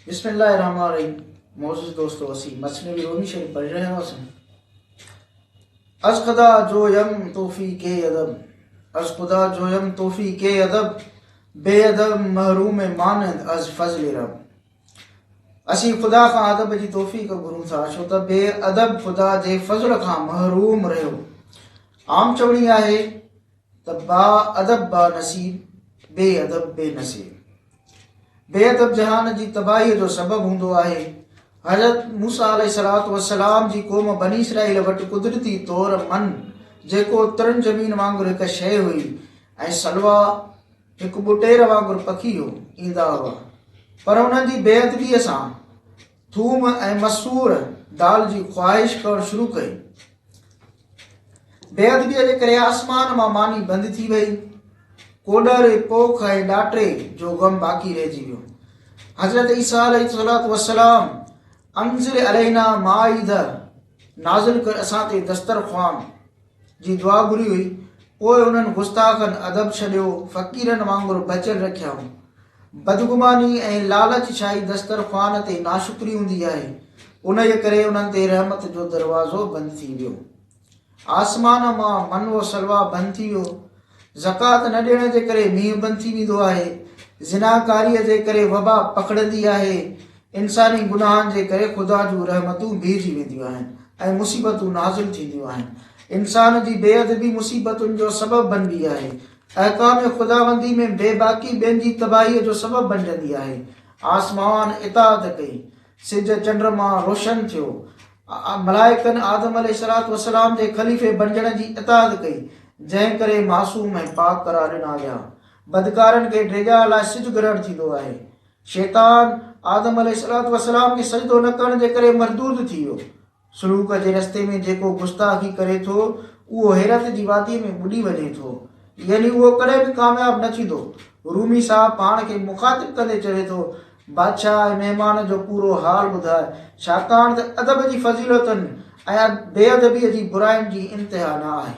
بسم الله الرحمن الرحيم معزز دوستو اسين مثنوي رومي شريف پڙهي رهيا هئاسين از خدا جو يم توفي ڪي ادب از خدا جو يم توفي ڪي ادب بي ادب محروم مانند از فضل رب اسين خدا کان ادب جي توفيق گهرون ٿا ڇو ته بي ادب خدا جي فضل کان محروم رهيو عام چوڻي آهي ته با ادب با نصيب، بي ادب بي نصيب. بي ادب جهان جي تباهيء جو سبب هوندو آهي. حضرت موسيٰ عليه الصلوة والسلام جي قوم بني اسرائيل وٽ قدرتي طور من جيڪو ترن زمين وانگر هڪ شيء هئي ۽ سلويٰ هڪ ٻٽير وانگر پکي هو، ايندا هئا. پر انهن جي بي ادبيء سان، ٿوم ۽ مسور دال جي خواهش ڪرڻ شروع ڪئي. بي ادبيء جي ڪري آسمان مان ماني بند ٿي وئي. ڪوڏر، پوک ۽ ڏاٽي جو غم باقي رهجي ويو. حضرت عيسيٰ عليه الصلوة والسلام انزل علينا مائده نازل ڪر اسان تي دسترخوان جي دعا گهري هئي، پوء انهن گستاخن ادب ڇڏيو، فقيرن وانگر بچل رکيائون. بدگماني ۽ لالچ ڇائي دسترخوان تي ناشڪري هوندي آهي، انهيء ڪري انهن تي رحمت جو دروازو بند ٿي ويو. آسمان مان من و سلويٰ بند ٿي ويو، زڪوات نه ڏيڻ جي ڪري مينهن بند ٿي ويندو آهي، زناڪاريء جي ڪري وبا پکڙندي آهي، انساني گناهن جي ڪري خدا جون رحمتون بيهجي وينديون آهن ۽ مصيبتون نازل ٿينديون آهن. انسان جي بي ادبي مصيبتن جو سبب بنبي آهي. احڪام خداوندي ۾ بي باڪي ٻين جي تباهيء جو سبب بنجندي آهي. آسماوان اطاعت ڪئي، سج چنڊ مان روشن ٿيو. ملائڪن آدم عليه السلام جي خليفي بڻجڻ جي اطاعت ڪئي، جنهن ڪري معصوم ۽ پاڪ قرار ڏنا ويا. بدڪارن کي ڊيڄار لاء سج گرهڻ ٿيندو آهي. شيطان آدم عليه السلام کي سجدو نه ڪرڻ جي ڪري مردود ٿي ويو. سلوڪ جي رستي ۾ جيڪو گستاخي ڪري ٿو، اهو حيرت جي واديء ۾ ٻڏي وڃي ٿو. يعني اهو ڪڏهن به ڪامياب نه ٿيندو. رومي صاحب پاڻ کي مخاطب ڪندي چوي ٿو، بادشاهه ۽ مهمان جو پورو حال ٻڌاء، ڇاڪاڻ ته ادب جي فضيلتن ۽ بي ادبيء جي براين جي انتها نه آهي.